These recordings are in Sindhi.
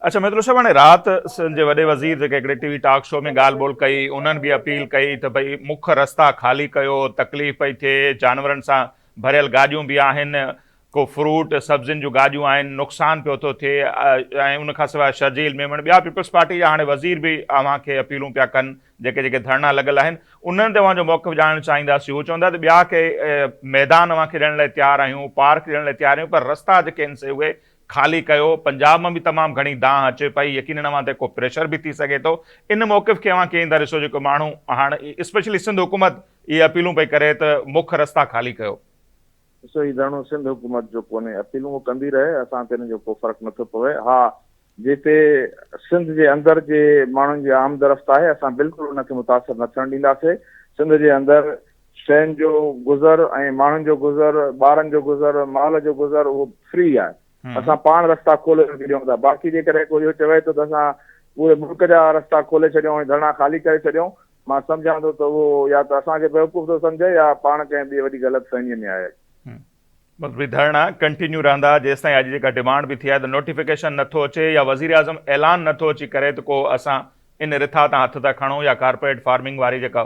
اچ ميتلو صاحب هاڻي رات سنڌ جي وڏي وزير جيڪي هڪڙي ٽي وي ٽاڪ شو ۾ ڳالهه ٻولهه ڪئي انهن به اپيل ڪئي ته ڀئي مک رستا خالي ڪيو تڪليف پئي ٿئي جانورن سان ڀريل گاڏيون به آهن ڪو فروٽ سبزين جون گاڏيون آهن نقصان پيو ٿو ٿئي ۽ ان کان سواء شرجيل ميمڻ ٻيا پيپلز پارٽي جا هاڻي وزير به اوهان کي اپيلون پيا ڪن جيڪي جيڪي ڌرڻا لڳل آهن انهن تي اوهان جو موقف ڄاڻڻ چاهينداسين هو چون ٿا ته ٻيا ڪي ميدان اوهان کي ڏيڻ لاء تيار آهيون پارڪ ڏيڻ لاء تيار آهيون پر رستا جيڪي آهن سي اهي خالي ڪيو، پنجاب مان به تمام گهڻي دانهن اچي پئي، يقينن اوهان تي ڪو پريشر به ٿي سگهي ٿو، ان موقف کي اوهان ڪيئن ٿا ڏسو جيڪو ماڻهو هاڻ اسپيشلي سنڌ حڪومت اهي اپيلون پئي ڪري ته مک رستا خالي ڪيو. ڏسو هي ڌرڻو سنڌ حڪومت جو ڪونهي، اپيلون هو ڪندي رهي، اسان تي ان جو ڪو فرق نه ٿو پوي، ها جتي سنڌ جي اندر جي ماڻهن جي آمدرفت آهي اسان بلڪل ان کي متاثر نه ٿيڻ ڏينداسين، سنڌ جي اندر شين جو گذر ۽ ماڻهن جو گذر، ٻارن جو گذر، مال جو گذر اهو فري آهي. اسان پاڻ رستا کولي رکي ڏيون ٿا. باقي جيڪڏهن ڪو اهو چوي ٿو ته اسان پوري ملڪ جا رستا کولي ڇڏيون ۽ ڌرڻا خالي ڪري ڇڏيون، مان سمجهان ٿو ته اهو يا ته اسان کي بيوقوف ٿو سمجهي يا پاڻ ڪنهن ٻي وڏي غلط فهميء ۾ آهي. مطلبي ڌرڻا ڪنٽينيو رهندا جيستائين اڄ جيڪا ڊمانڊ به ٿي آهي ته نوٽيفڪيشن نه ٿو اچي يا وزيراعظم اعلان نه ٿو اچي ڪري ته ڪو اسان ان رٿا تان هٿ ٿا کڻون يا ڪارپوريٽ فارمنگ واري جيڪا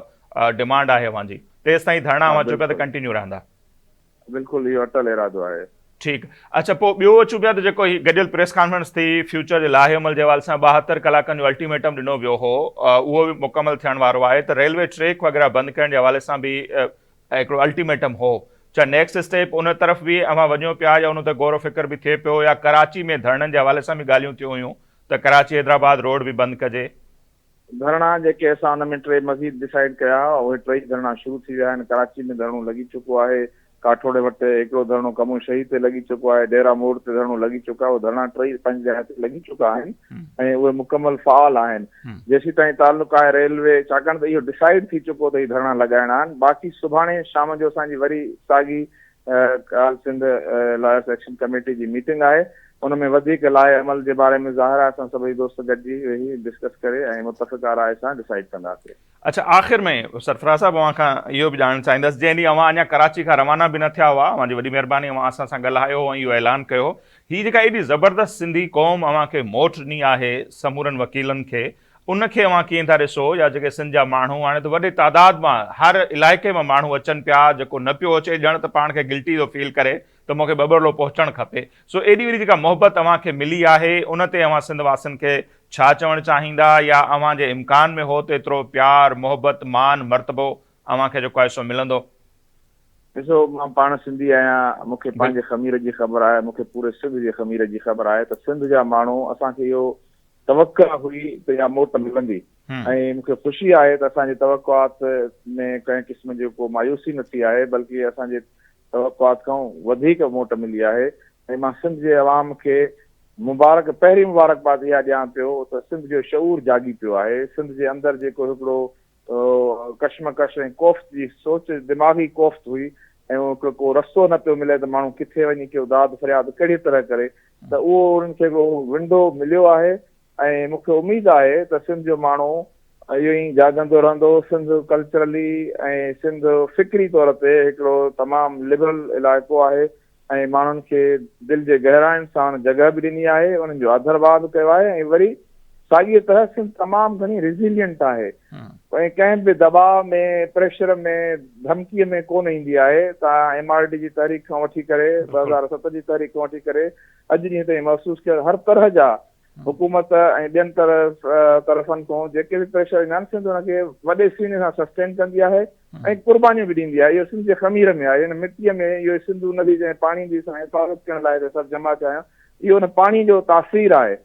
ڊمانڊ آهي اوهان جي تيستائين ڌرڻا اوهان چئو پيا ته ڪنٽينيو رهندا. بلڪل اهو اٽل ارادو آهي. ٺيڪ اڇا پوء ٻيو اچون پيا ته جيڪو هي گڏيل پريس ڪانفرنس ٿي فيوچر جي لائحي عمل جي حوالي سان ٻاهتر ڪلاڪن جو الٽيميٽم ڏنو ويو هو اهو به مڪمل ٿيڻ وارو آهي ته ريلوي ٽريڪ وغيره بند ڪرڻ جي حوالي سان به هڪڙو الٽيميٽم هو. ڇا نيڪسٽ اسٽيپ ان طرف به اوهان وڃو پيا يا ان تي غور و فڪر به ٿئي پيو يا ڪراچي ۾ ڌرڻن جي حوالي سان به ڳالهيون ٿيون هيون ته ڪراچي حيدرآباد روڊ به بند ڪجي. ڌرڻا جيڪي اسان ان ۾ ٽي مزيد ڊسائيڊ ڪيا هئا اهي ٽيئي ڌرڻا شروع ٿي ويا آهن. ڪراچي ۾ ڌرڻو لڳي چڪو آهي. ڪاٺوڙي وٽ هڪڙو ڌرڻو ڪمون شهيد تي لڳي چڪو آهي. ڊيرا موڙ تي ڌرڻو لڳي چڪو آهي. اهي ڌرڻا ٽيئي پنهنجي جاء تي لڳي چڪا آهن. ۽ اهي مڪمل فعال آهن جيسيتائين تعلق آهي ريلوي ڇاڪاڻ ته اهو ڊسائيڊ ٿي چڪو ته هي ڌرڻا لڳائڻا آهن باقي سڀاڻي شام جو اسان جي وري ساڳي all Sindh lawyers action committee جي ميٽنگ آهي ان ۾ وڌيڪ لائحه عمل جي باري ۾ ظاهر آهي اسان سڀئي دوست گڏجي ويهي ڊسڪس ڪري ۽ متفقه راء سان ڊسائيڊ ڪنداسي. اڇا آخر ۾ سرفراز صاحب اوهان کان اهو به ڄاڻڻ چاهيندس جنهن ڏينهن اوهان اڃا ڪراچي کان روانا به نه ٿيا هئا اوهان جي وڏي مهرباني اوهان اسان سان ڳالهايو هو ۽ اهو اعلان ڪيو هو هي جيڪا ايڏي زبردست سنڌي قوم اوهان کي موٽ ڏني آهي سمورن وڪيلن کي ان کي اوهان ڪيئن ٿا ڏسو يا جيڪي سنڌ جا ماڻهو هاڻي ته وڏي تعداد مان هر علائقي مان ماڻهو اچن پيا جيڪو نه پيو اچي ڄڻ ته پاڻ کي گلٽي ٿو فيل ڪري ته مونکي ٻٻرلو پهچڻ کپي سو ايڏي وڏي جيڪا محبت اوهان کي ملي آهي ان تي اوهان سنڌ واسين کي ڇا چوڻ چاهيندا يا اوهان جي امڪان ۾ هو ته ايترو پيار محبت مان مرتبو اوهان کي جيڪو آهي سو ملندو. ڏسو مان پاڻ سنڌي آهيان مون کي پنهنجي خمير جي خبر آهي مون کي پوري سنڌ جي خمير جي خبر آهي ته سنڌ جا ماڻهو اسان کي اهو توقع هئي ته اها موٽ ملندي ۽ مون کي خوشي آهي ته اسان جي توقعات ۾ ڪنهن قسم جي ڪو مايوسي نه ٿي آهي بلڪه اسان جي توقعات کان وڌيڪ موٽ ملي آهي ۽ مان سنڌ جي عوام کي مبارڪ پهرين مبارڪباد اها ڏيان پيو ته سنڌ جو شعور جاڳي پيو آهي سنڌ جي اندر جيڪو هڪڙو اهو ڪشمڪش ۽ ڪوفت جي سوچ دماغي ڪوفت هئي ۽ ڪو رستو نه پيو ملي ته ماڻهو ڪٿي وڃي ڪيو داد فرياد ڪهڙي طرح ڪري ته اهو انهن کي هڪڙو ونڊو مليو آهي ۽ مون کي اميد آهي ته سنڌ جو ماڻهو اهو ايئن جاڳندو رهندو سنڌ ڪلچرلي ۽ سنڌ فڪري طور تي هڪڙو تمام لبرل علائقو آهي ۽ ماڻهن کي دل جي گهراين ساڻ جڳهه به ڏني آهي، انهن جو آڌرڀاء به ڪيو آهي ۽ وري ساڳيء طرح سنڌ تمام گهڻي Resilient آهي ۽ ڪنهن به دٻاء ۾ پريشر ۾ ڌمڪيء ۾ ڪونه ايندي آهي، توهان ايم آر ڊي جي تحريڪ کان وٺي ڪري ٻه هزار ست جي تحريڪ کان وٺي ڪري اڄ ڏينهن تائين محسوس ڪيو هر طرح جا حڪومت ۽ ٻين طرفن تون جيڪي به پريشر ايندا آهن سنڌ ان کي وڏي سيني سان سسٽين ڪندي آهي ۽ قربانيون به ڏيندي آهي اهو سنڌ جي خمير ۾ آهي ان مٽيء ۾ اهو ئي سنڌو ندي جنهن پاڻي جي اسان حفاظت ڪرڻ لاء هتي سڀ جمع ٿيا آهيون اهو ان پاڻي جو تاثير آهي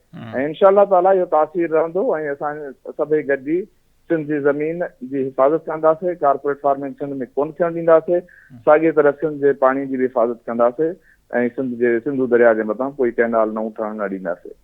۽ انشاء الله تعالٰي اهو تاثير رهندو ۽ اسان سڀئي گڏجي سنڌ جي زمين جي حفاظت ڪنداسي ڪارپوريٽ فارمنگ سنڌ ۾ ڪون ٿيڻ ڏينداسي ساڳي طرح سنڌ جي پاڻي جي به حفاظت ڪنداسي ۽ سنڌ جي سنڌو درياء جي مٿان ڪوئي ڪئنال نئون ٺهڻ نه ڏينداسي